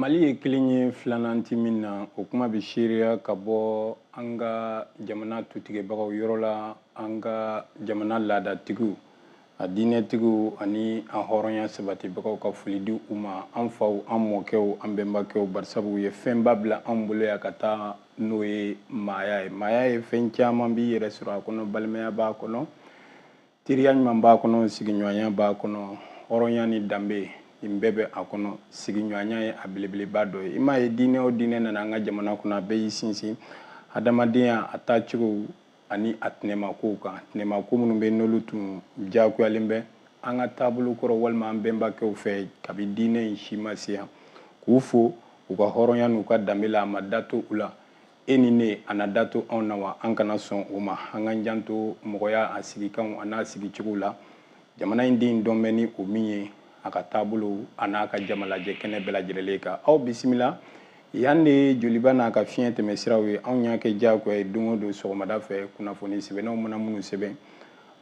mali ye kelen ye filanan tɛ min na o kuma bɛ seereya ka bɔ an ka jamana tutigɛbagaw yɔrɔ la an ka jamana laadatigiw a diinɛtigiw ani a hɔrɔnya sabatibagaw ka foli di u ma an faw an mɔkɛw an bɛnbakɛw barisabu u ye fɛnba bila an bolo yan ka taa n'o ye maaya ye maaya ye fɛn caman b'i yɛrɛ sɔrɔ a kɔnɔ balimaya b'a kɔnɔ Teriya ɲuman b'a kɔnɔ sigiɲɔgɔnya b'a kɔnɔ hɔrɔnya ni danbe nin bɛɛ bɛ a kɔnɔ sigiɲɔgɔnya ye a belebeleba dɔ ye i m'a ye diinɛ o diinɛ nana an ka jamana kɔnɔ a bɛɛ y'i sinsin adamadenya a taacogo ani a tɛnɛmakow kan tɛnɛmako minnu bɛ n'olu tun diyagoyalen bɛ an ka taabolo kɔrɔ walima an bɛnbakɛw fɛ kabi diinɛ in si ma se yan k'u fo u ka hɔrɔnya n'u ka danbe la a ma da to u la e ni ne a na da to anw na wa an kana sɔn o ma an k'an janto mɔgɔya a sigikanw a n'a sigicogo la jamana in den dɔn bɛ ni o min ye a ka taabolo a n'a ka jamalajɛ kɛnɛ bɛɛ lajɛlen kan aw bisimila yan de ye joliba n'a ka fiɲɛ tɛmɛ siraw ye anw y'a kɛ diyagoya ye don o don sɔgɔmada fɛ kunnafoni sɛbɛnnaw mana minnu sɛbɛn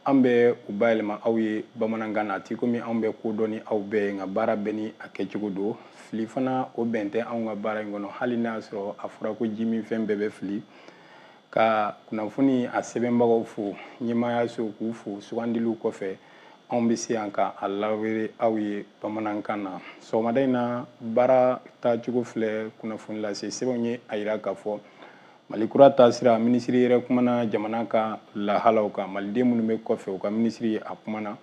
an bɛ u bayɛlɛma aw ye bamanankan na tɛ komi anw bɛ ko dɔn ni aw bɛɛ ye nka baara bɛɛ ni a kɛcogo don fili fana o bɛn tɛ anw ka baara in kɔnɔ hali n'a y'a sɔrɔ a fɔra ko jiminfɛn bɛɛ bɛ fili ka kunnafoni a sɛbɛnbagaw fo ɲɛmaayaso k'u fo sugandiliw kɔfɛ anw bɛ se yan ka a lawere aw ye bamanankan na sɔgɔmada in na baara taacogo filɛ kunnafoni lase sɛbɛnw ye a yira k'a fɔ Mali kura taasira minisiri yɛrɛ kumana jamana ka lahalaw kan maliden minnu bɛ kɔfɛ u ka minisiri a kumana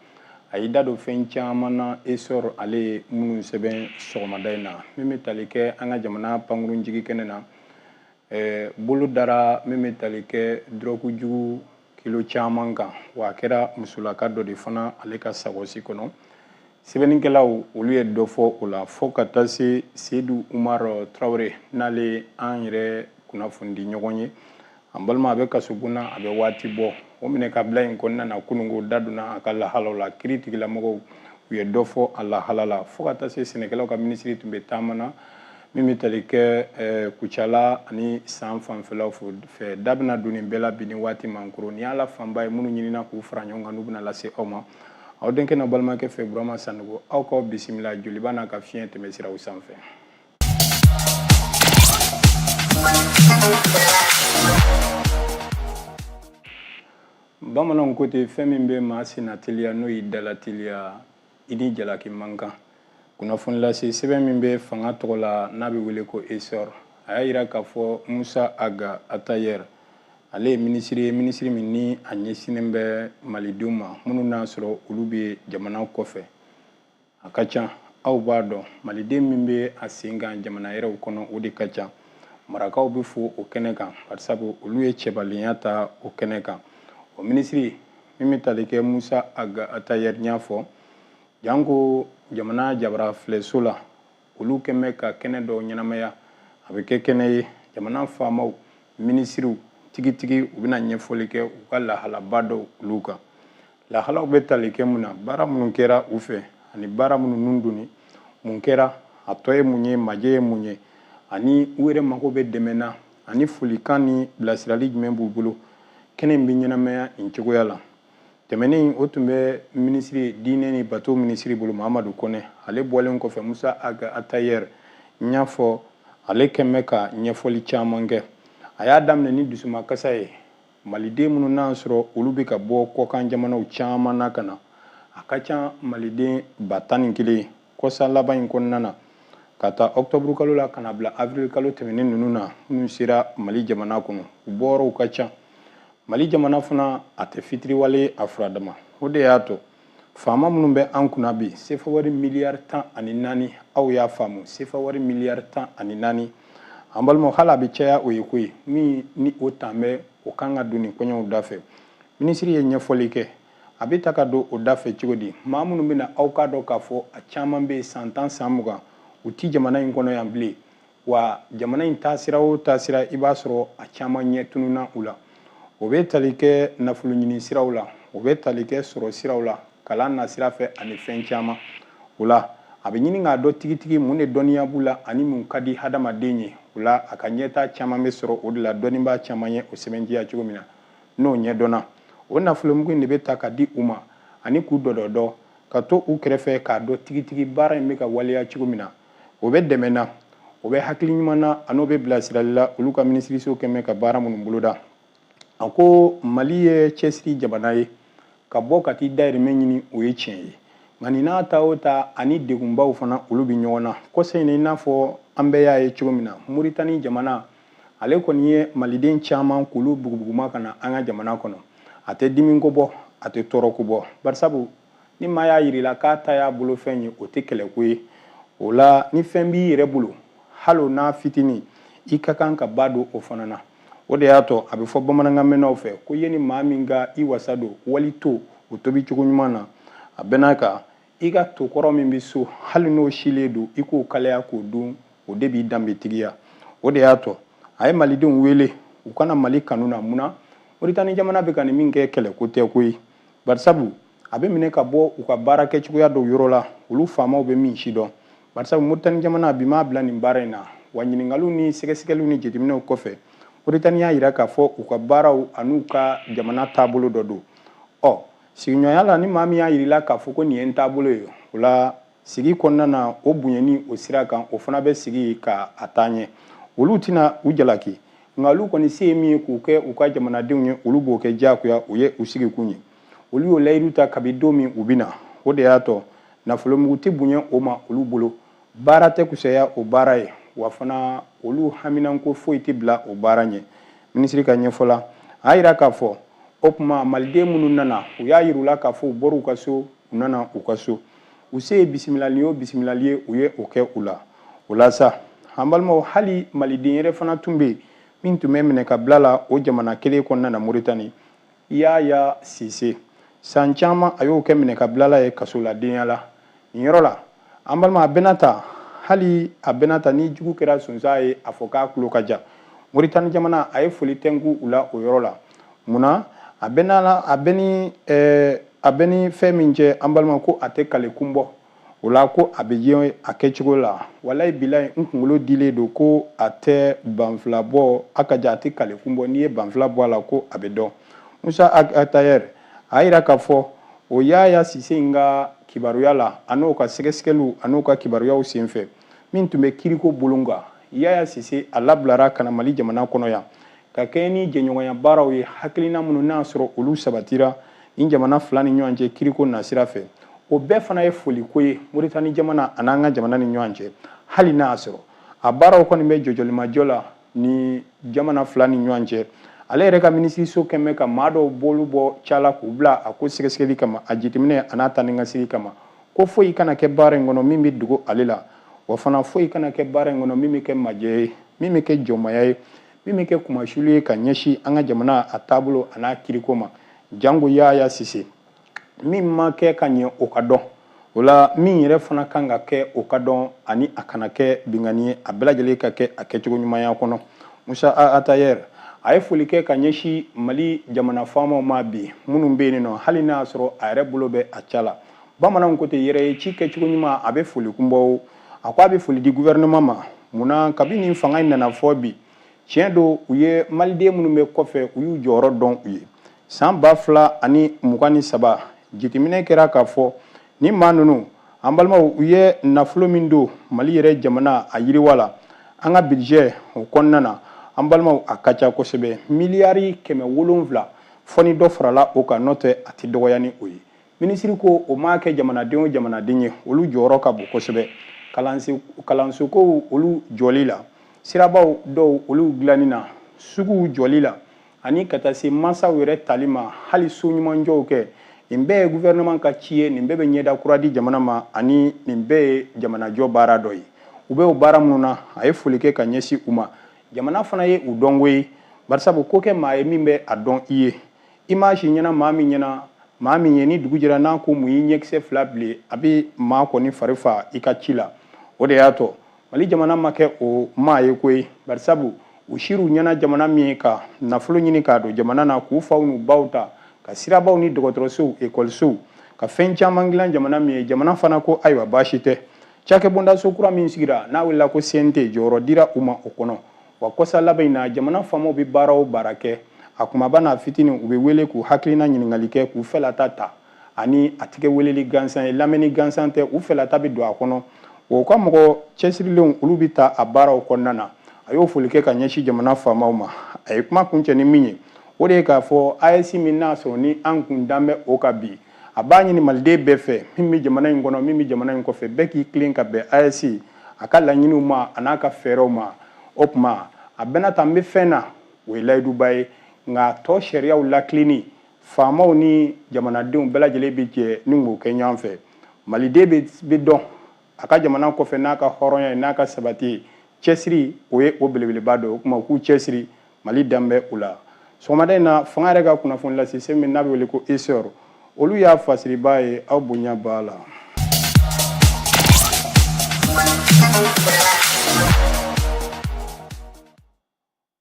a y'i da don fɛn caman na esɔr ale ye minnu sɛbɛn sɔgɔmada in na min bɛ tali kɛ an ka jamana pankurunjiginkɛnɛ na bolo dara min bɛ tali kɛ dɔrɔgu jugu kilo caman kan wa a kɛra musolaka dɔ de fana ale ka sakɔsi kɔnɔ sɛbɛnnikɛlaw olu ye dɔ fɔ o la fo ka taa se seyidu umar tarawele n'ale an yɛrɛ kunnafonidiɲɔgɔn ye an balima a bɛ kasobon na a bɛ waati bɔ o minɛ ka bila in kɔnɔna na kunun ko da donna a ka lahalaw la kiiritigɛlamɔgɔw u ye dɔ fɔ a lahala la fo ka taa se sɛnɛkɛlaw ka minisiri tun bɛ taama na min bɛ tali kɛ eh, Kucala ani san fanfɛlaw fɛ da bɛna don nin bɛɛ la bi ni waati man koro nin y'a la fanba ye minnu ɲinina k'u fara ɲɔgɔn kan n'u bɛna lase aw ma aw denkɛ n'a balimakɛ fɛ burama sanogo aw k'aw bisimila joliba n'a ka fiɲɛ tɛmɛ siraw sanfɛ bamananw ko ten fɛn min bɛ maa sen nateliya n'o y'i da lateliya i ni jalaki man kan kunnafonilase sɛbɛn min bɛ fanga tɔgɔ la n'a bɛ wele ko esɔr a y'a jira k'a fɔ musa aga atayɛr ale ye minisiri ye minisiri min ni a ɲɛsinnen bɛ malidenw ma minnu n'a sɔrɔ olu bɛ jamana kɔfɛ a ka ca aw b'a dɔn maliden min bɛ a sen kan jamana wɛrɛw kɔnɔ o de ka ca marakaw bɛ fo o kɛnɛ kan barisabu olu ye cɛbalenya ta o kɛnɛ kan o minisiri min bɛ tali kɛ musa aga atayɛri y'a fɔ janko jamana jabara filɛso la olu kɛn bɛ ka kɛnɛ dɔw ɲɛnamaya a bɛ kɛ kɛnɛ ye jamana faamaw minisiriw tigitigi u bɛna ɲɛfɔli kɛ u ka lahalaba dɔw olu kan lahalaw bɛ tali kɛ mun na baara minnu kɛra u fɛ ani baara minnu nun donni mun kɛra a tɔ ye mun ye majɛ ye mun ye ani u yɛrɛ mago bɛ dɛmɛ na ani folikan ni bilasirali jumɛn b'u bolo kɛnɛ in bɛ ɲɛnamaya nin cogoya la tɛmɛnen o tun bɛ minisiri diinɛ ni bato minisiri bolo mahamadu kɔnɛ ale bɔlen kɔfɛ musa aga atayɛri n y'a fɔ ale kɛn bɛ ka ɲɛfɔli caman kɛ a y'a daminɛ ni dusumakasa ye maliden minnu n'a sɔrɔ olu bɛ ka bɔ kɔkan jamanaw caman na ka na a ka ca maliden ba tan ni kelen kɔsa laban in kɔnɔna na ka taa octobre kalo la ka na bila avril kalo tɛmɛnen ninnu na minnu sera mali jamana kɔnɔ u bɔyɔrɔw ka ca mali jamana fana a tɛ fitiriwale a furadama o de y'a to faama minnu bɛ an kunna bi sefa wari miliyari tan ani naani aw y'a faamu sefa wari miliyari tan ani naani an balimaw hali a bɛ caya o ye koyi min ni o tan bɛ o kan ka don nin koɲɛw da fɛ minisiri ye ɲɛfɔli kɛ a bɛ ta ka don o da fɛ cogo di maa minnu bɛ na aw k'a dɔn k'a fɔ a caman bɛ san tan san mugan u ti jamana in kɔnɔ yan bilen wa jamana in taasira o taasira i b'a sɔrɔ a caman ɲɛ tununna u la o bɛ tali kɛ nafolo ɲini siraw la o bɛ tali kɛ sɔrɔ siraw la kalan nasira fɛ ani fɛn caman o la a bɛ ɲini k'a dɔn tigitigi mun de dɔnniya b'u la ani mun ka di hadamaden ye o la a ka ɲɛtaa caman bɛ sɔrɔ o de la dɔnnibaa caman ye o sɛbɛntiya cogo min na n'o ɲɛdɔnna o nafolomugu in de bɛ ta ka di u ma ani k'u dɔdɔdɔ ka to u kɛrɛfɛ k'a dɔn tigitigi baara in bɛ ka waleya cogo min na o bɛ dɛmɛ na o bɛ hakili ɲuman na an'o bɛ bilasirali la olu ka minisiriso kɛn bɛ ka baara minnu boloda a ko mali ye cɛsiri jamana ye ka bɔ ka t'i dayirimɛ ɲini o ye tiɲɛ ye nka nin n'a ta o ta ani degunbaw fana olu bɛ ɲɔgɔn na kɔsa in na i n'a fɔ an bɛɛ y'a ye cogo min na moritani jamana ale kɔni ye maliden caman k'olu bugubuguma ka na an ka jamana kɔnɔ a tɛ dimi ko bɔ a tɛ tɔɔrɔ ko bɔ barisabu ni maa y'a yir'i la k'a ta y'a bolo fɛn ye o tɛ kɛlɛko ye o la ni fɛn b'i yɛrɛ bolo hali n'a fitinin i ka kan ka ba don o fana na o de y'a to a bɛ fɔ bamanankan mɛnnaw fɛ ko i ye ni maa min ka i wasa don wali to o tobi cogo ɲuman na a bɛn'a kan i ka to kɔrɔ min bɛ so hali n'o silen don i k'o kalaya k'o dun o de b'i danbetigiya o de y'a to a ye malidenw wele u ka na mali kɔnɔna mun na moritani jamana bɛ ka nin min kɛ kɛlɛko tɛ ko ye barisabu a bɛ minɛ ka bɔ u ka baarakɛcogoya dɔw yɔrɔ la olu faamaw bɛ min si dɔn barisabu moritani jamana bi m'a bila nin baara in na wa ɲininkaliw ni sɛgɛsɛgɛliw ni jateminɛw kɔfɛ moritani y'a yira k'a fɔ u ka baaraw an'u ka jamana taabolo dɔ don ɔ sigiɲɔgɔnya la ni maa min y'a yir'i la k'a fɔ ko nin ye n taabolo ye o la sigi kɔnɔna na o bonyani o sira kan o fana bɛ sigi ka a taa ɲɛ olu tɛna u jalaki nka olu kɔni se ye min ye k'u kɛ u ka jamanadenw ye olu b'o kɛ diyagoya o ye u sigikun ye olu y'o layidu ta kabi don min u bɛ na o de y'a to nafolomugu tɛ bonya o ma olu bolo baara tɛ kusaya o baara ye wa fana olu haminanko foyi tɛ bila o baara ɲɛ minisiri ka ɲɛfɔ la a y'a yira k'a fɔ o tuma maliden minnu nana u y'a yir'u la k'a fɔ u bɔr'u ka so u nana u ka so u se ye bisimilali o bisimilali ye u ye o kɛ u la o la sa an balimaw hali maliden yɛrɛ fana tun bɛ yen min tun bɛ minɛ ka bila la o jamana kelen kɔnɔna na moritani Yaya Sise, san caman a y'o kɛ minɛkabilala ye kasoladenya la. Nin yɔrɔ la, an balima a bɛna ta, hali a bɛna ta ni jugu kɛra sonsan ye, a fɔ k'a tulo ka jan. Moritani jamana, a ye foli tɛnku u la o yɔrɔ la. Mun na? A bɛ ni fɛn min cɛ, an balima ko a tɛ kale kun bɔ. o la ko a bɛ ye a kɛcogo la walayi bilayi n kunkolo dilen don ko a tɛ banfula bɔ a ka ja a tɛ kalekun bɔ n'i ye banfula bɔ a la ko a bɛ dɔn musa atayɛri a yira k'a fɔ o yaya sise in ka kibaruya la an'o ka sɛgɛsɛgɛliw an'o ka kibaruyaw senfɛ min tun bɛ kiriko bolon kan yaya sise a labilara ka na mali jamana kɔnɔ yan ka kɛɲɛ ni jɛɲɔgɔnya baaraw ye hakilina minnu n'a sɔrɔ olu sabatira nin jamana fila ni ɲɔgɔn cɛ kiriko nasira fɛ o bɛɛ fana ye foliko ye moritani jamana an'an ka jamana ni ɲɔgɔn cɛ hali n'a y'a sɔrɔ a baaraw kɔni bɛ jɔjɔlimajɔ la nin jamana fila ni ɲɔgɔn cɛ ale yɛrɛ ka minisiriso kɔni bɛ ka maa dɔw bolo bɔ ca la k'u bila a ko sɛgɛsɛgɛli kama a jateminɛ an'a ta ni ka sigi kama ko foyi kana kɛ baara in kɔnɔ min bɛ dogo ale la wa fana foyi kana kɛ baara in kɔnɔ min bɛ kɛ majɛ ye min bɛ kɛ jɔnmaya ye min bɛ kɛ kunmasuli ye ka ɲɛsin an ka jamana a taabolo a n'a kiriko ma jango yaya sise min ma kɛ ka ɲɛ o ka dɔn o la min yɛrɛ fana kan ka kɛ o ka dɔn ani a kana kɛ binkanni ye a bɛɛ lajɛlen ka kɛ a kɛcogo ɲumanya kɔnɔ musa atayɛri a ye foli kɛ ka ɲɛsin mali jamana faamaw ma bi minnu bɛ yen nɔ hali n'a y'a sɔrɔ a yɛrɛ bolo bɛ a ca la bamananw ko ten yɛrɛ ye ci kɛcogo ɲuman a bɛ foli kun bɔ a ko a bɛ foli di gouvernement ma munna kabini fanga in nana fɔ bi tiɲɛ don u ye maliden minnu bɛ kɔfɛ u y'u jɔyɔrɔ dɔn u ye san ba fila ani mugan ni saba jateminɛ kɛra k'a fɔ ni maa ninnu an balimaw u ye nafolo min don mali yɛrɛ jamana a yiriwa la an ka budget o kɔnɔna na an balimaw a ka ca kosɛbɛ miliyari kɛmɛ wolonwula fɔ ni dɔ farala o kan n'o tɛ a tɛ dɔgɔya ni o ye minisiri ko o ma kɛ jamanaden o jamanaden ye olu jɔyɔrɔ ka bon kosɛbɛ kalansokow olu jɔli la sirabaw dɔw olu dilanni na suguw jɔli la ani ka taa se mansaw yɛrɛ tali ma hali so ɲumanjɔw kɛ nin bɛɛ ye gouvernement ka ci ye nin bɛɛ bɛ ɲɛda kura di jamana ma ani nin bɛɛ ye jamanajɔ baara dɔ ye u bɛ o baara minnu na a ye foli kɛ ka ɲɛsin u ma jamana fana ye u dɔn koyi barisabu ko kɛ maa ye min bɛ a dɔn i ye i maa si ɲɛna maa min ye ni dugu jɛra n'a ko mun y'i ɲɛkisɛ fila bilen a bɛ maa kɔni fari fa i ka ci la o de y'a to mali jamana ma kɛ o maa ye koyi barisabu u sir'u ɲɛna jamana min ye ka nafolo ɲini k'a don jamana na k'u faw n'u baw ta ka sirabaw ni dɔgɔtɔrɔsow ekɔlisow ka fɛn caman dilan jamana min ye jamana fana ko ayiwa baasi tɛ cakɛbondaso kura min sigira n'a wulila ko cnt jɔyɔrɔ dira u ma o kɔnɔ wa kɔsa laban in na jamana faamaw bɛ baara o baara kɛ a kunbaba n'a fitini u bɛ wele k'u hakilina ɲininkali kɛ k'u fɛlata ta ani a tɛ kɛ weleli gansan ye lamɛnni gansan tɛ u fɛlata bɛ don a kɔnɔ wa u ka mɔgɔ cɛsirilenw olu bɛ ta a baaraw kɔnɔna na a y'o foli kɛ ka ɲɛsin jamana faamaw ma a ye kuma kuncɛ ni min ye o de ye k'a fɔ AES min n'a sɔrɔ ni an kun dan bɛ o kan bi a b'a ɲini maliden bɛɛ fɛ min bɛ jamana in kɔnɔ min bɛ jamana in kɔfɛ bɛɛ k'i tilen ka bɛn AES a ka laɲiniw ma a n'a ka fɛɛrɛw ma o tuma a bɛna ta n bɛ fɛn na o ye layiduba ye nka tɔn sariyaw latilenni faamaw ni jamanadenw bɛɛ lajɛlen bɛ jɛ ni k'o kɛ ɲɔgɔn fɛ maliden bɛ dɔn a ka jamana kɔfɛ n'a ka hɔrɔnya ye n'a ka sabati ye cɛsiri o ye o belebeleba dɔ ye o tuma u k'u cɛsiri mali danbɛ o la sɔgɔmada in na fanga yɛrɛ ka kunnafoni lase so min n'a bɛ wele ko essor olu y'a fasiribaa ye aw bonya b'a la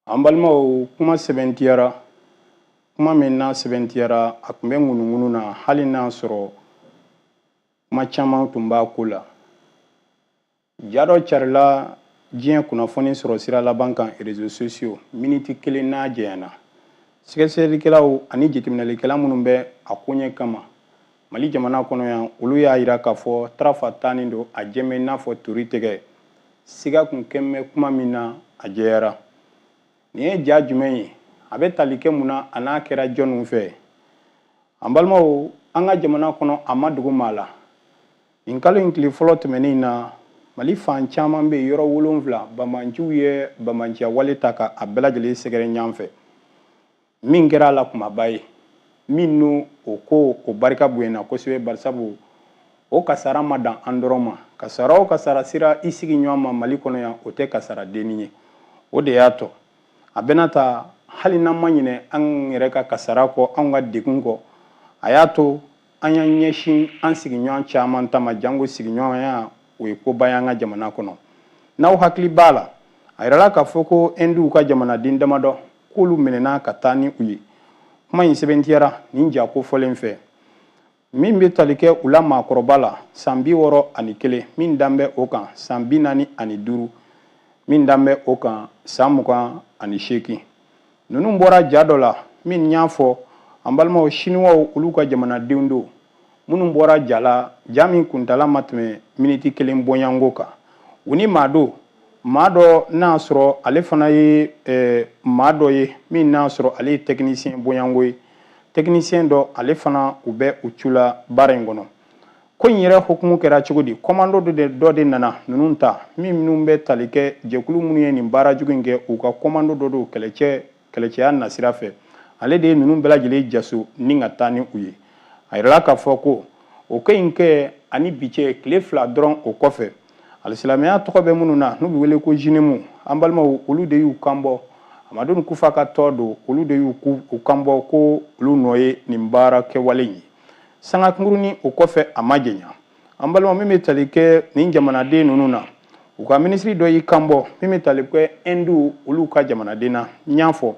an balimaw kuma sɛbɛntiyara kuma min n'a sɛbɛntiyara a tun bɛ ŋunuŋunu na hali n'a sɔrɔ kuma caman tun b'a ko la ja dɔ carila diɲɛ kunnafoni sɔrɔ sira laban kan réseaux sociaux miniti kelen n'a jɛyana sɛgɛsɛgɛlikɛlaw ani jateminɛlikɛla minnu bɛ a koɲɛ kama mali jamana kɔnɔ yan olu y'a jira k'a fɔ tarafa tannen don a jɛmɛ n'a fɔ tori tɛgɛ siga kun kɛmɛ kuma min na a jɛyara nin ye ja jumɛn ye a bɛ tali kɛ mun na an'a kɛra jɔnniw fɛ an balimaw an ka jamana kɔnɔ a ma dogo maa la nin kalo in tile fɔlɔ tɛmɛnen na mali fan caman bɛ yɔrɔ wolonfila banbaanciw ye banbaanciya wale ta ka a bɛɛ lajɛlen sɛgɛrɛ ɲɔgɔn fɛ min kɛra a la kunbaba ye min n'o o ko o barika bonyana kosɛbɛ barisabu o kasara ma dan an dɔrɔn ma kasara o kasara sera i sigiɲɔgɔn ma mali kɔnɔ yan o tɛ kasara dennin ye o de y'a to a bɛna ta hali n'an ma ɲinɛ an yɛrɛ ka kasara kɔ anw ka degun kɔ a y'a to an y'an ɲɛsin an sigiɲɔgɔn caman ta ma janko sigiɲɔgɔnya o ye koba y'an ka jamana kɔnɔ n'aw hakili b'a la a yirala k'a fɔ ko ɛnduw ka jamanaden damadɔ k'olu minɛna ka taa ni u ye kuma in sɛbɛntiyara nin ja kofɔlen fɛ min bɛ tali kɛ u la maakɔrɔba la san bi wɔɔrɔ ani kelen min dan bɛ o kan san bi naani ani duuru min dan bɛ o kan san mugan ani seegin ninnu bɔra ja dɔ la min n y'a fɔ an balimaw siniwaw olu ka jamanadenw don minnu bɔra ja la ja min kuntala ma tɛmɛ miniti kelen bɔɲɔgɔnko kan u ni maa don maa dɔ n'a sɔrɔ ale fana ye eh, maa dɔ ye min n'a sɔrɔ ale ye tɛkinisiyɛn bɔɲɔgɔnko ye tɛkinisiyɛn dɔ ale fana u bɛ u cu la baara in kɔnɔ ko in yɛrɛ hukumu kɛra cogo di kɔmando dɔ de nana ninnu ta minnu bɛ tali kɛ jɛkulu minnu ye nin baara jugu in kɛ u ka kɔmando dɔ don kɛlɛcɛya nasira fɛ ale de ye ninnu bɛɛ lajɛlen jaso ni ka taa ni u ye a yirala k'a fɔ ko o ko in kɛ ani bi cɛ tile fila dɔrɔn o kɔfɛ alisilamɛya tɔgɔ bɛ minnu na n'u bɛ wele ko jinemu an balimaw olu de y'u kanbɔ amadu kufa ka tɔn don olu de y'u kanbɔ ko olu nɔ ye nin baara kɛwale ye sanga kunkurunin o kɔfɛ a ma janya an balima min bɛ tali kɛ nin jamanaden ninnu na u ka minisiri dɔ y'i kanbɔ min bɛ tali kɛ ɛnduw olu ka jamanaden na n y'a fɔ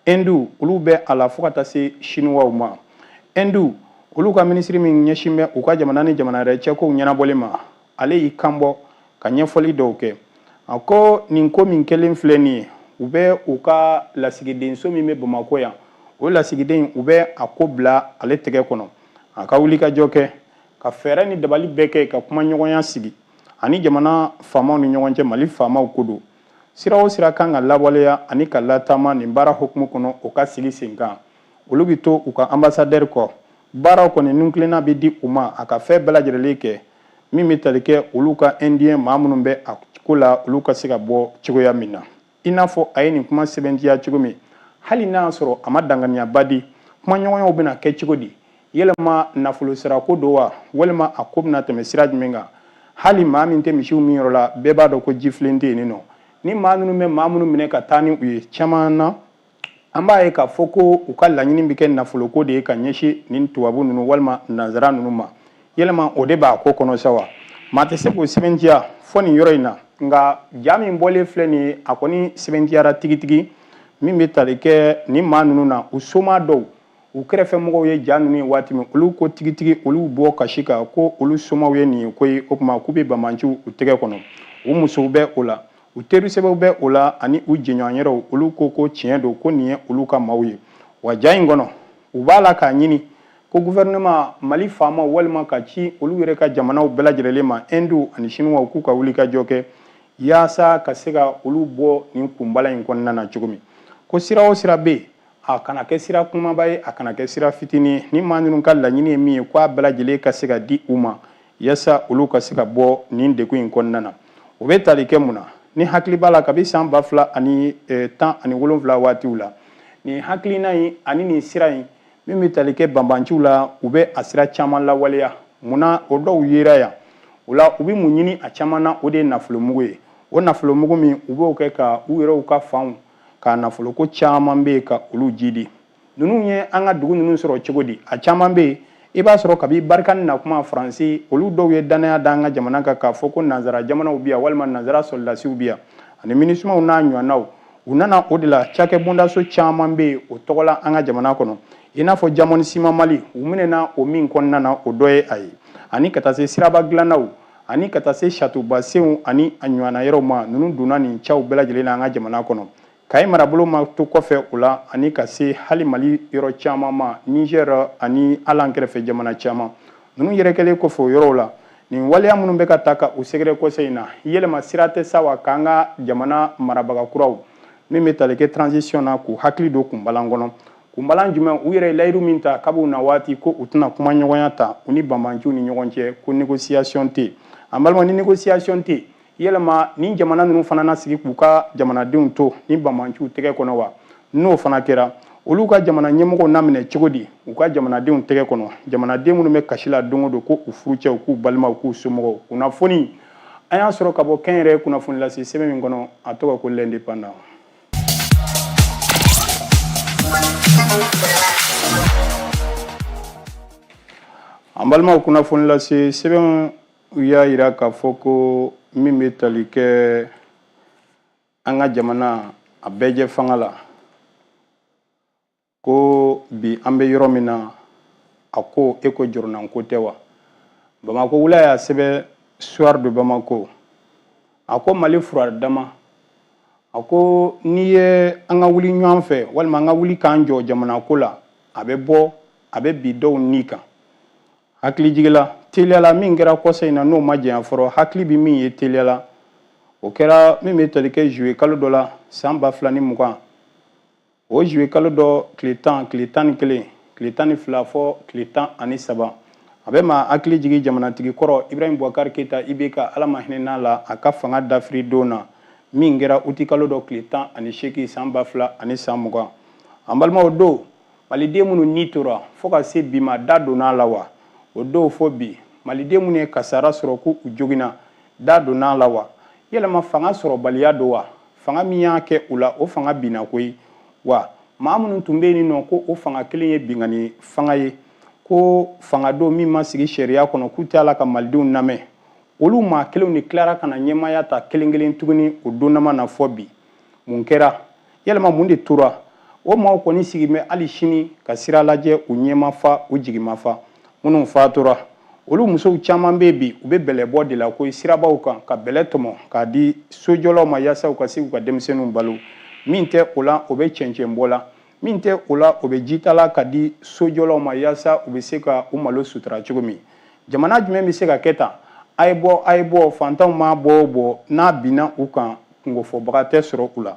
ɛnduw olu bɛ a la fo ka taa se siniwaw ma ɛnduw olu ka minisiri min ɲɛsin bɛ u ka jamana ni jamana wɛrɛ cɛ kow ɲɛnabɔli ma ale y'i kanbɔ ka ɲɛfɔli dɔw kɛ a ko nin ko min kɛlen filɛ nin ye u bɛ u ka lasigidenso min bɛ bamakɔ yan o lasigiden u bɛ a ko bila ale tɛgɛ kɔnɔ a ka wulikajɔ kɛ ka fɛɛrɛ ni dabali bɛɛ kɛ ka kumaɲɔgɔnya sigi a ni jamana faamaw ni ɲɔgɔn cɛ mali faamaw ko don sira o sira kan ka lawaleya ani ka latama nin baara hukumu kɔnɔ o ka sigi sen kan olu bɛ to u ka anbasadɛri kɔ baaraw kɔni nintilenna bɛ di u ma a ka fɛn bɛɛ lajɛlen kɛ min bɛ tali kɛ olu ka ɛndiyɛn maa minnu bɛ a ko la olu ka se ka bɔ cogoya min na i n'a fɔ a ye nin kuma sɛbɛntiya cogo min hali n'a y'a sɔrɔ a ma dankɛnɛyaba di kumaɲɔgɔnyaw bɛna kɛ cogo di yɛlɛma nafolo sarako don wa walima a ko bɛna tɛmɛ sira jumɛn kan hali maa min tɛ misiw minyɔrɔ la bɛɛ b'a dɔn ko jifilen tɛ yen nɔ ni maa minnu bɛ maa minnu minɛ ka taa ni u ye caman na an b'a ye k'a fɔ ko u ka laɲini bɛ kɛ nafoloko de ye ka ɲɛsin nin tubabu ninnu walima nanzara ninnu ma yɛlɛma o de b'a ko kɔnɔ sa wa maa tɛ se k'o sɛbɛntiya fɔ nin yɔrɔ in na nka ja min bɔlen filɛ nin ye a kɔni sɛbɛntiyara tigitigi min bɛ tali kɛ nin maa ninnu na u soma dɔw u kɛrɛfɛ mɔgɔw ye ja ninnu ye waati min olu ko tigitigi olu bɛ kasi kan ko olu somaw ye nin ye ko ye o tuma k'u bɛ banbanciw u tɛgɛ kɔnɔ u musow bɛ o la u teri sɛbɛw bɛ o la ani u jɛɲɔgɔn yɛrɛw olu ko ko tiɲɛ don ko nin ye olu ka maaw ye wa ja in kɔnɔ u b'a la k'a ɲini ko gouvernement mali faama walima ka ci olu yɛrɛ ka jamanaw bɛɛ lajɛlen ma hindu ani sinuwaw k'u ka wulikajɔ kɛ yaasa ka se ka olu bɔ nin kunbalan in kɔnɔna na cogo min ko sira o sira bɛ yen a kana kɛ sira kumaba ye a kana kɛ sira fitinin ye nin maa ninnu ka laɲini ye min ye ko a bɛɛ lajɛlen ka se ka di u ma yaasa olu ka se ka bɔ nin degun in kɔnɔna na o bɛ tali kɛ mun na n'i hakili b'a la kabi san ba fila ani e, tan ani wolonwula waatiw la nin hakilina in ani nin sira in min bɛ tali kɛ banbanciw la u bɛ a sira caman lawaleya munna o dɔw yera yan o la u bɛ mun ɲini a caman na o de ye nafolomugu ye o nafolomugu min u b'o kɛ ka u yɛrɛw ka fanw ka nafoloko caman bɛ yen ka olu jidi ninnu ye an ka dugu ninnu sɔrɔ cogo di a caman bɛ yen i b'a sɔrɔ kabi Barkhane na kuma faransi olu dɔw ye dannaya da an ka jamana kan k'a fɔ ko nanzara jamanaw bɛ yan walima nanzara sɔrɔdasiw bɛ yan ani minusimaw n'a ɲɔgɔnnaw u nana o de la cakɛ bondaso caman bɛ yen o tɔgɔ la an ka jamana kɔnɔ i n'a fɔ Diamond Ciment Mali u minɛna o min kɔnɔna na o dɔ ye a ye ani ka taa se siraba dilannaw ani ka taa se satubasenw ani a ɲɔgɔnna yɔrɔw ma ninnu donna nin cɛw bɛɛ lajɛlen na an ka jamana kɔnɔ Kayes marabolo ma to kɔfɛ o la ani ka se hali Mali yɔrɔ caman ma Niger ani hali an kɛrɛfɛ jamana caman ninnu yɛrɛ kɛlen kɔfɛ o yɔrɔw la nin waleya minnu bɛ ka taa ka u sɛgɛrɛ kɔsa in na yɛlɛma sira tɛ sa wa k'an ka jamana marabaga kuraw min bɛ tali kɛ transition na k'u hakili don kunbalan kɔnɔ kunbalan jumɛn u yɛrɛ ye layiru min ta kab'u na waati ko u tɛna kumaɲɔgɔnya ta u ni banbanciw ni ɲɔgɔn cɛ ko négociation tɛ yen an balima ni négociation tɛ yen yɛlɛma nin jamana ninnu fana na sigi k'u ka jamanadenw to nin banbanciw tɛgɛ kɔnɔ wa n'o fana kɛra olu ka jamana ɲɛmɔgɔw na minɛ cogo di u ka jamanadenw tɛgɛ kɔnɔ jamanaden minnu bɛ kasi la don o don ko u furucɛw k'u balimaw k'u somɔgɔw kunnafoni an y'a sɔrɔ ka bɔ kɛnyɛrɛ kunnafoni lase sɛbɛn min kɔnɔ a tɔgɔ ko l'Indépendant an balimaw kunnafoni lase sɛbɛn u y'a yira k'a fɔ ko min bɛ tali kɛ an ka jamana a bɛɛjɛ fanga la ko bi an bɛ yɔrɔ min na a ko e ko jɔrɔnanko tɛ wa bamakɔ wula y'a sɛbɛn soir de bamako a ko mali fura dama a ko nin ye an ka wuli ɲɔgɔn fɛ walima an ka wuli k'an jɔ jamana ko la a bɛ bɔ a bɛ bi dɔw nin kan hakili jigila teliya la min kɛra kɔsa in na n'o ma janya fɔlɔ hakili bɛ min ye teliya la o kɛra min bɛ tali kɛ juillet kalo dɔ la san ba fila ni mugan o juillet kalo dɔ tile tan tile tan ni kelen tile tan ni fila fo tile tan ani saba a bɛ maa hakili jigin jamanatigi kɔrɔ ibrahim bubakari keyita ibk ala ma hinɛ n'a la a ka fanga dafiri don na min kɛra uti kalo dɔ tile tan ani seegin san ba fila ani san mugan an balimaw don maliden minnu ni tora fo ka se bi ma da dɔnna la wa o don fo bi maliden minnu ye kasara sɔrɔ ko u joginna da dɔnna la wa yɛlɛma fanga sɔrɔbaliya don wa fanga min y'a kɛ u la o fanga binna koyi wa maa minnu tun bɛ yen n'u ko o fanga kelen ye binkanni fanga ye ko fanga don min ma sigi sariya kɔnɔ k'u tɛ a la ka malidenw lamɛn olu maa kelenw de tilara ka na ɲɛmaaya ta kelen kelen tuguni o donnama na fo bi mun kɛra yɛlɛma mun de tora o maaw kɔni sigi bɛ hali sini ka sira lajɛ u ɲɛ ma fa u jigi ma fa minnu fatura olu musow caman bɛ bi u bɛ bɛlɛbɔ de la ko sirabaw kan ka bɛlɛ tɔmɔ k'a di sojɔlaw ma yaasa u ka se u ka denmisɛnninw balo min tɛ o la o bɛ cɛncɛnbɔ la min tɛ o la o bɛ jita la k'a di sojɔlaw ma yaasa u bɛ se ka u malo sutura cogo min jamana jumɛn bɛ se ka kɛ tan a ye bɔ a ye bɔ fantanw ma bɔ o bɔ n'a binna u kan kunkofɔbaga tɛ sɔrɔ u la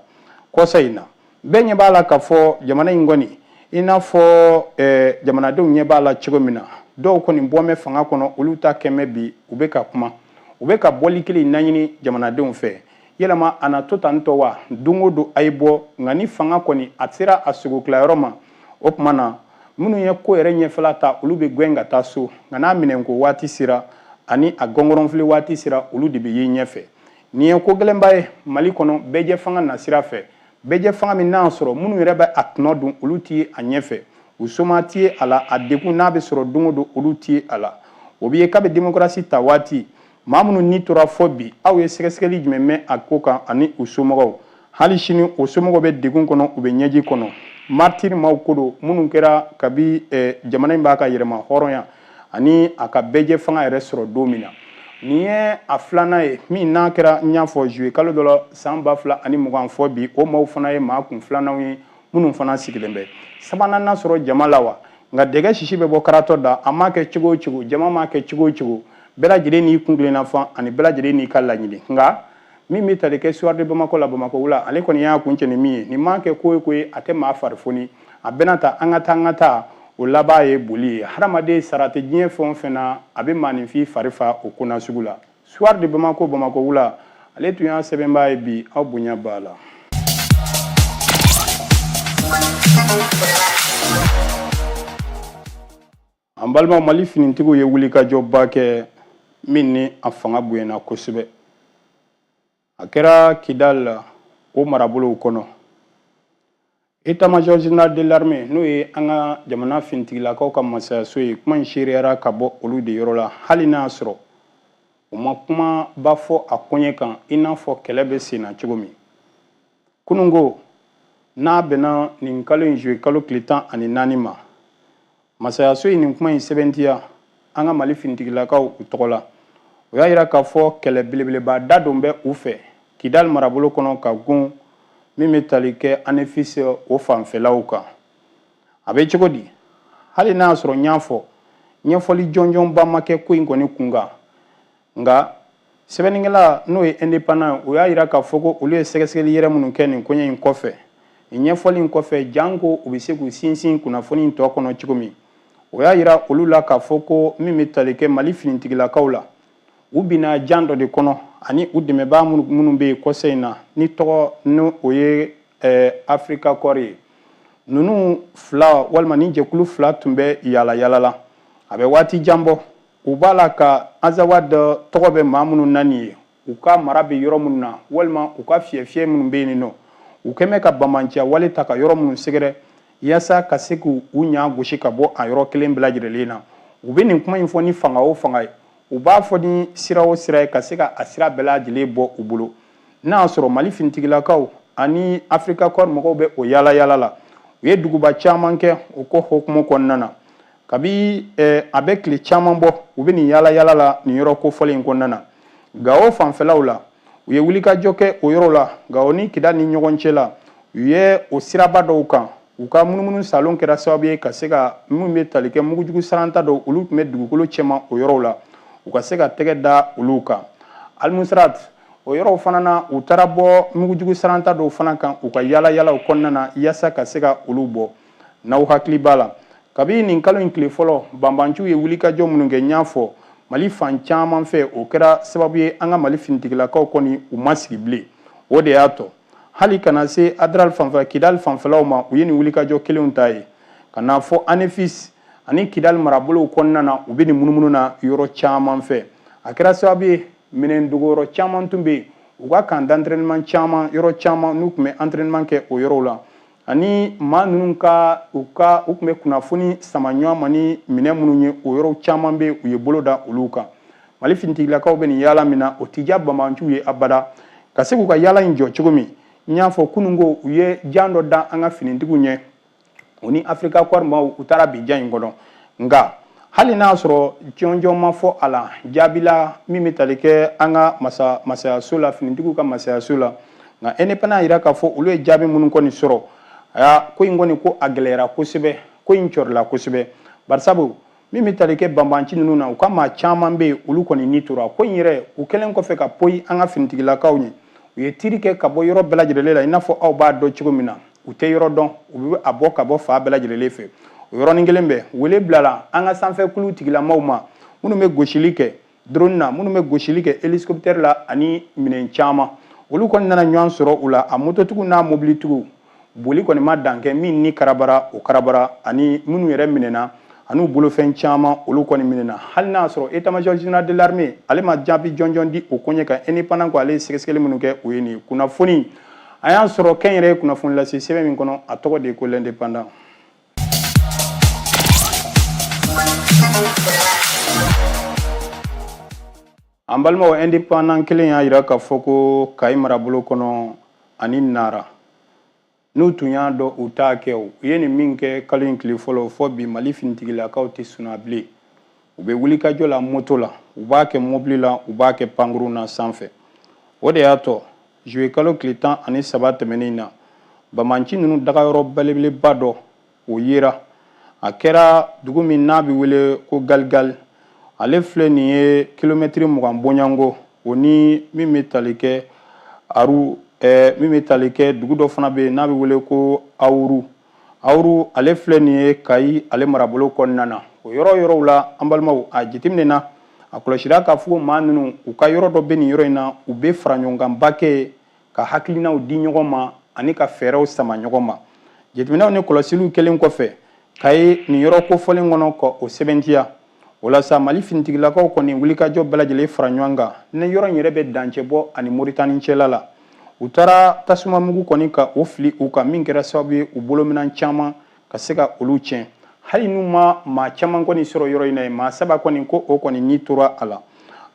kɔsa in na bɛɛ ɲɛ b'a la k'a fɔ jamana in kɔni i n'a fɔ eh, jamanadenw ɲɛ b'a la cogo min na dɔw kɔni bɔmɛ fanga kɔnɔ olu ta kɛmɛ bi u bɛ ka kuma u bɛ ka bɛn ni kelenya ɲini jamanadenw fɛ yɛlɛma a na to tan tɔ wa don o don a ye bɔ nka ni fanga kɔni a sera a sogo tilayɔrɔ ma o tuma na minnu ye ko yɛrɛ ɲɛfɛla ta olu bɛ gɛn ka taa so nka n'a minɛnko waati sera ani a gɔngɔrɔnfili waati sera olu de bɛ ye ɲɛfɛ nin ye ko gɛlɛnba ye mali kɔnɔ bɛɛjɛ fanga nasira fɛ bɛɛjɛ fanga min n'a sɔrɔ minnu yɛrɛ bɛ a tɔnɔ dun olu tɛ ye a ɲɛfɛ u somaa tɛ ye a la a degun n'a bɛ sɔrɔ don o don olu tɛ ye a la o bɛ yen kabi demokarasi ta waati maa minnu ni tora fo bi aw ye sɛgɛsɛgɛli jumɛn mɛn a ko kan ani u somɔgɔw hali sini o somɔgɔw bɛ degun kɔnɔ u bɛ ɲɛji kɔnɔ martyr maaw ko don minnu kɛra kabi eh, jamana in b'a ka yɛrɛmahɔrɔnya ani a ka bɛɛjɛ fanga yɛrɛ sɔrɔ don min na nin ye a filanan ye min n'a kɛra n y'a fɔ juillet kalo dɔ la san ba fila ani mugan fo bi o maaw fana ye maa kun filananw ye minnu fana sigilen bɛ sabanan na sɔrɔ jama la wa nka dɛgɛ sisi bɛ bɔ karatɔ da a m'a kɛ cogo o cogo jama m'a kɛ cogo o cogo bɛɛ lajɛlen n'i kun kelenna fɔ ani bɛɛ lajɛlen n'i ka laɲini nka min bɛ tali kɛ Soir de Bamako la bamakɔ wula ale kɔni y'a kuncɛ ni min ye nin ma kɛ ko ye ko ye a tɛ maa fari foni a bɛna ta an ka taa an ka taa o laban ye boli ye hadamaden sara tɛ diɲɛ fɛn o fɛn na a bɛ maaninfin fari fa o ko nasugu la Soir de Bamako bamakɔ wula ale tun y'a sɛbɛnbaa ye bi aw bonya b'a la. An balima mali finitigiw ye wulikajɔba kɛ min ni a fanga bonyana kosɛbɛ a kɛra Kidal la o marabolo kɔnɔ état-major général de l'armée n'o ye an ka jamana finitigilakaw ka masayaso ye kuma in seereyara ka bɔ olu de yɔrɔ la hali n'a y'a sɔrɔ u ma kumaba fɔ a koɲɛ kan i n'a fɔ kɛlɛ bɛ sen na cogo min kunun ko n'a bɛnna nin kalo in juillet kalo tile tan ani naani ma masayaso ye nin kuma in sɛbɛntiya an ka mali finitigilakaw u tɔgɔ la o y'a yira k'a fɔ kɛlɛ belebeleba da don bɛ u fɛ kidali marabolo kɔnɔ ka gun min bɛ tali kɛ Anefis o fanfɛlaw kan a bɛ cogo di hali n'a y'a sɔrɔ n y'a fɔ ɲɛfɔli jɔnjɔnba ma kɛ ko in kɔni kun kan nka sɛbɛnnikɛla n'o ye indépendant o y'a yira k'a fɔ ko olu ye sɛgɛsɛgɛli yɛrɛ minnu kɛ nin koɲɛ in kɔfɛ nin ɲɛfɔli in kɔfɛ janko u bɛ se k'u sinsin kunnafoni in tɔ kɔnɔ cogo min o y'a yira olu la k'a fɔ ko min bɛ tali kɛ mali finitigilakaw la u binna jan dɔ de kɔnɔ ani u dɛmɛbaa minnu bɛ yen kɔsa in na ni tɔgɔ ni o ye eh, Africa Corps ye ninnu fila walima nin jɛkulu fila tun bɛ yaala yaala la a bɛ waati jan bɔ U b'a la ka Azawad tɔgɔ bɛ maa minnu na nin ye u ka mara bɛ yɔrɔ minnu na walima u ka fief minnu bɛ yen nɔ u kɛlen bɛ ka banbaanciya wale ta ka yɔrɔ minnu sɛgɛrɛ yaasa ka se k' u ɲa gosi ka bɔ a yɔrɔ kelen bɛɛ lajɛlen na u bɛ nin kuma in fɔ ni fanga o fanga ye u b'a fɔ ni sira o sira ye ka se ka a sira bɛɛ lajɛlen bɔ u bolo n'a y'a sɔrɔ mali finitigilakaw ani Africa Corps mɔgɔw bɛ o yaala yaala la u ye duguba caman kɛ o ko hukumu kɔnɔna na kabi eh, a bɛ tile caman bɔ u bɛ nin yaala yaala la nin yɔrɔ kofɔlen in kɔnɔna na gawo fanfɛlaw la u ye wulikajɔ kɛ o yɔrɔ la gawo ni Kidal ni ɲɔgɔn cɛ la u ye o siraba dɔw kan u ka munumunu saalo kɛra sababu ye ka se ka minnu bɛ tali kɛ mugujugu saranta dɔw olu tun bɛ dugukolo cɛma o yɔrɔw la u ka se ka tɛgɛ da olu kan Almoustarat o yɔrɔw fana na u taara bɔ mugujugu saranta dɔw fana kan u ka yaala yaalaw kɔnɔna na yaasa ka se ka olu bɔ n'aw hakili b'a la kabini nin kalo in tile fɔlɔ banbanciw ye wulikajɔ minnu kɛ n y'a fɔ mali fan caman fɛ o kɛra sababu ye an ka mali finitigilakaw kɔni u ma sigi bilen o de y'a to hali ka na se adral fanfɛ kidali fanfɛlaw ma u ye nin wulikajɔ kelenw ta ye ka n'a fɔ anefis ani kidali marabolow kɔnɔna na u bɛ nin munumunu na yɔrɔ caman fɛ a kɛra sababu ye minɛn dogoyɔrɔ caman tun bɛ yen u ka camp d'entraînement caman yɔrɔ caman n'u tun bɛ entraînement kɛ o yɔrɔw la ani maa ninnu ka u ka u tun bɛ kunnafoni sama ɲɔgɔn ma ni minɛn minnu ye o yɔrɔ caman bɛ u ye bolo da olu kan mali finitigilakaw bɛ nin yaala min na o tɛ diya bamanciw ye abada ka se k'u ka yaala in jɔ cogo min n y'a fɔ kunun ko u ye jan dɔ da an ka finitigiw ɲɛ u ni africa corps maaw u taara bin jan in kɔnɔ nka hali n'a sɔrɔ jɔnjɔn ma fɔ a la jaabila min bɛ tali kɛ an ka masa masayaso la finitigiw ka masayaso la nka indépendant y'a yira k'a fɔ olu ye jaabi minnu kɔni sɔrɔ aa ko in kɔni ko a gɛlɛyara kosɛbɛ ko in cɔrila kosɛbɛ barisabu min bɛ tali kɛ banbanci ninnu na u ka maa caman bɛ yen olu kɔni ni tora ko in yɛrɛ u kɛlen kɔfɛ ka poyi an ka finitigilakaw ɲɛ u ye tiri kɛ ka bɔ yɔrɔ bɛɛ lajɛlen la i n'a fɔ aw b'a dɔn cogo min na u tɛ yɔrɔ dɔn u bɛ a bɔ ka bɔ fan bɛɛ lajɛlen fɛ o yɔrɔnin kelen bɛɛ wele bilala an ka sanfɛ kulu tigilamaw ma minnu bɛ gosili kɛ drone na minnu bɛ gosili kɛ hélicoptère la ani minɛn caman olu kɔni nana ɲɔgɔn sɔrɔ u la a mototigiw n'a mobilitigiw boli kɔni ma dan kɛ min ni karabara o karabara ani minnu yɛrɛ minɛna an'u bolofɛn caman olu kɔni minɛna hali n'a sɔrɔ état-major général de l'armée ale ma jaabi jɔnjɔn di o koɲɛ kan indépendant ko ale ye sɛgɛsɛgɛli minnu kɛ o ye nin ye kunnafoni an y'a sɔrɔ kɛnyɛrɛye kunnafoni lase sɛbɛn min kɔnɔ a tɔgɔ de ye ko l'indépendant an balimaw indépendant kelen y'a yira k'a fɔ ko kayi marabolo kɔnɔ ani nara n'u tun y'a dɔn u t'a kɛ u ye nin min kɛ kalo in tile fɔlɔ fo bi mali finitigilakaw tɛ suna bilen u bɛ wulikajɔ la moto la u b'a kɛ mobili la u b'a kɛ pankurun na sanfɛ o de y'a to juillet kalo tile tan ani saba tɛmɛnen na bamanci ninnu dagayɔrɔ belebeleba dɔ o yera a kɛra dugu min n'a bɛ wele ko galigali ale filɛ nin ye kilomɛtiri mugan bɔɲɔgɔnko o ni min bɛ tali kɛ aru ɛɛ min bɛ tali kɛ dugu dɔ fana bɛ yen n'a bɛ wele ko awuru Awuru ale filɛ nin ye Kayi ale marabolo kɔnɔna na. O yɔrɔ yɔrɔw la an balimaw a jateminɛna a kɔlɔsira k'a fɔ maa ninnu u ka yɔrɔ dɔ bɛ nin yɔrɔ in na u bɛ faraɲɔgɔnkanba kɛ ka hakilinaw di ɲɔgɔn ma ani ka fɛɛrɛw sama ɲɔgɔn ma. Jateminɛw ni kɔlɔsiliw kɛlen kɔfɛ Kayi nin yɔrɔ kofɔlen kɔnɔ ka o sɛbɛntiya. o la sa mali finitigilakaw kɔni wulikajɔ bɛɛ lajɛlen fara ɲɔgɔn kan ni yɔrɔ in yɛrɛ bɛ dancɛ bɔ ani moritani cɛla la u taara tasuma mugu kɔni ka o fili u kan min kɛra sababu ye u bolo minan caman ka se ka olu tiɲɛ hali n'u ma maa caman kɔni sɔrɔ yɔrɔ in na ye maa saba kɔni ko o kɔni ni tora a la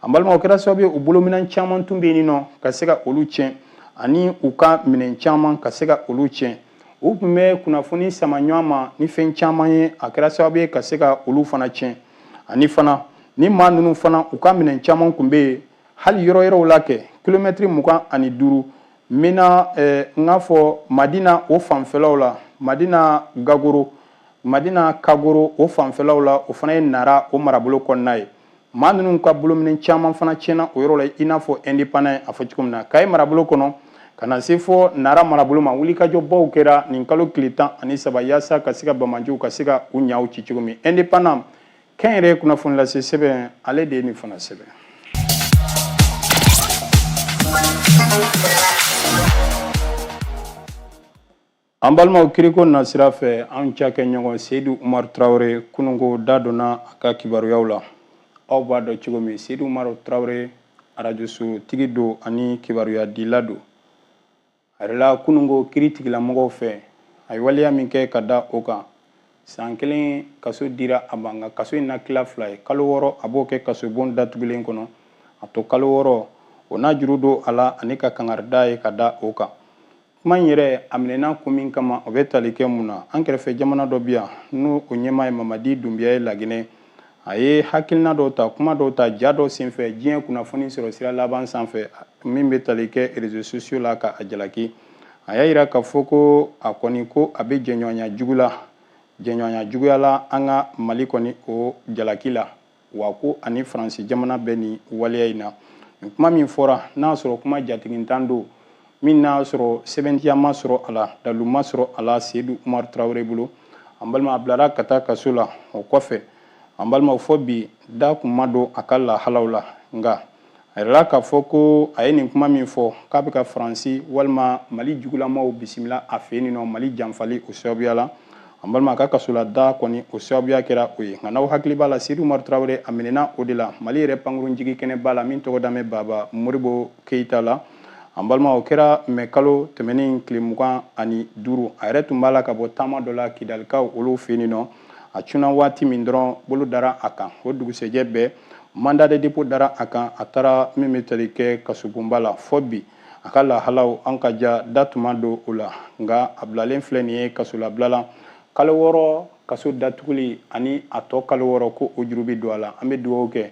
an balima o kɛra sababu ye u bolo minan caman tun bɛ yen nɔ ka se ka olu tiɲɛ ani u ka minɛn caman ka se ka olu tiɲɛ u tun bɛ kunnafoni sama ɲɔgɔn ma ni fɛn caman ye a kɛra sababu ye ka se ka olu fana tiɲɛ ani fana ni maa ninnu fana u ka minɛn caman tun bɛ yen hali yɔrɔ yɔrɔw la kɛ kilomɛtiri mugan ani duuru n bɛna eh, n k'a fɔ madina o fanfɛlaw la madina gagoro madina kagoro o fanfɛlaw la o fana ye nara o marabolo kɔnɔna ye maa ninnu ka bolominɛn caman fana tiɲɛna o yɔrɔ la i n'a fɔ indépendant y'a fɔ cogo min na kayi marabolo kɔnɔ ka na se fɔ nara marabolo ma wulikajɔbaw kɛra nin kalo tile tan ani saba yaasa ka se ka banbaanciw ka se ka u ɲaw ci cogo min indépendant kɛnyɛrɛye kunnafoni lase sɛbɛn ale de ye nin fana sɛbɛn An balimaw kiiriko nasira fɛ an cakɛɲɔgɔn seyidu umaru tarawele kununko da donna a ka kibaruyaw la aw b'a dɔn cogo min seyidu umaru tarawele arajosotigi don ani kibaruyadila don a yirala kununko kiiritigɛlamɔgɔw fɛ a ye waleya min kɛ ka da o kan san kelen kaso dira a ma nka kaso in na tila fila ye kalo wɔɔrɔ a b'o kɛ kaso bon datugulen kɔnɔ a to kalo wɔɔrɔ o n'a juru don a la ani ka kangarida ye ka da o kan kuma in yɛrɛ a minɛna ko min kama o bɛ tali kɛ mun na an kɛrɛfɛ jamana dɔ bi yan n'o o ɲɛmaa ye mamadi dunbiya ye laginɛ a ye hakilina dɔw ta kuma dɔw ta ja dɔ senfɛ diɲɛ kunnafoni sɔrɔ sira laban sanfɛ min bɛ tali kɛ réseaux sociaux la ka a jalaki a y'a yira k'a fɔ ko a kɔni ko a bɛ jɛɲɔgɔnya jugu la jɛɲɔgɔnya juguya la an ka mali kɔni o jalaki la wa ko ani faransi jamana bɛ nin waleya in na nin kuma min fɔra n'a y'a sɔrɔ kuma jatigintan don min n'a y'a sɔrɔ sɛbɛntiya ma sɔrɔ a la dalu ma sɔrɔ a la seyidu umaru tarawele bolo an balima a bilara ka taa kaso la o kɔfɛ an balimaw fɔ bi da kun ma don a ka lahalaw la nka a yirala k'a fɔ ko a ye nin kuma min fɔ k'a bɛ ka faransi walima mali jugulamaw bisimila a fɛ yen nɔ mali janfali o sababuya la an balima a ka kasola da kɔni o sababuya kɛra o ye nka n'aw hakili b'a la seyidu umaru tarawele a minɛna o de la mali yɛrɛ pankurun jigi kɛnɛba la min tɔgɔ dalen bɛ baba moribo keyita la an balima o kɛra mɛ kalo tɛmɛnen tile mugan ani duuru a yɛrɛ tun b'a la ka bɔ taama dɔ la kidalikaw olu fɛ yen nɔ a cunna waati min dɔrɔn bolo dara a kan o dugusɛjɛ bɛɛ Mandat de dépôt dara a kan a taara min bɛ tali kɛ kasobonba la fɔ bi a ka lahalaw an ka ja da tuma don o la nka a bilalen filɛ nin ye kasolabila la kalo wɔɔrɔ kaso datuguli ani a tɔ kalo wɔɔrɔ ko o juru bɛ don a la an bɛ dugawu kɛ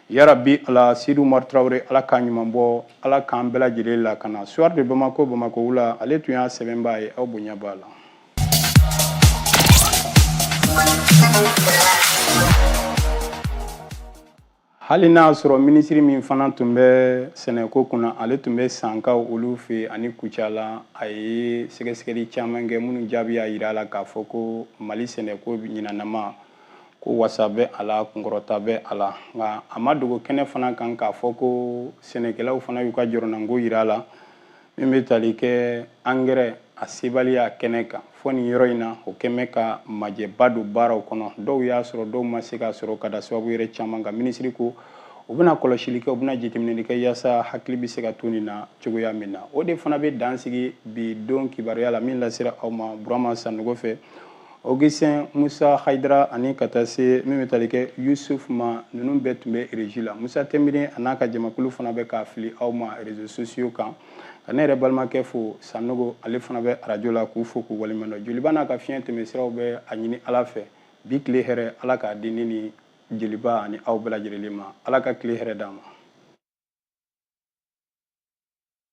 yarabi ala Seyidu Umar Tarawele ala k'a ɲuman bɔ ala k'an bɛɛ lajɛlen lakana Soir de Bamako bamakɔ wula ale tun y'a sɛbɛnbaa ye aw bonya b'a la hali n'a sɔrɔ minisiri min fana tun bɛ sɛnɛko kunna ale tun bɛ sankaw olu fɛ ani kucala a ye sɛgɛsɛgɛli caman kɛ minnu jaabi y'a jira a la k'a fɔ ko mali sɛnɛko ɲinanama ko wasa bɛ a la kunkɔrɔta bɛ a la nka a ma dogo kɛnɛ fana kan k'a fɔ ko sɛnɛkɛlaw fana y'u ka jɔrɔnanko jira a la min bɛ tali kɛ angɛrɛ a sebaliya kɛnɛ kan fɔ nin yɔrɔ in na o kɛn bɛ ka majɛba don baaraw kɔnɔ dɔw y'a sɔrɔ dɔw ma se k'a sɔrɔ ka da sababu yɛrɛ caman kan minisiri ko u bɛna kɔlɔsili kɛ u bɛna jateminɛli kɛ yaasa hakili bɛ se ka to nin na cogoya min na o de fana bɛ dan sigi bi don kibaruya la min lasera aw ma burama sanogo fɛ Augustin Musa Haidara ani ka taa se min bɛ tali kɛ Yusuf ma ninnu bɛɛ tun bɛ régie la Musa Tɛnbiri a n'a ka jamakulu fana bɛ k'a fili aw ma réseaux sociaux kan ka ne yɛrɛ balimakɛ fo Sanogo ale fana bɛ arajo la k'u fo k'u waleɲumandɔn Jeliba n'a ka fiɲɛ tɛmɛ siraw bɛ a ɲini Ala fɛ bi tile hɛrɛ Ala k'a di ne ni Jeliba ani aw bɛɛ lajɛlen ma Ala ka tile hɛrɛ d'an ma.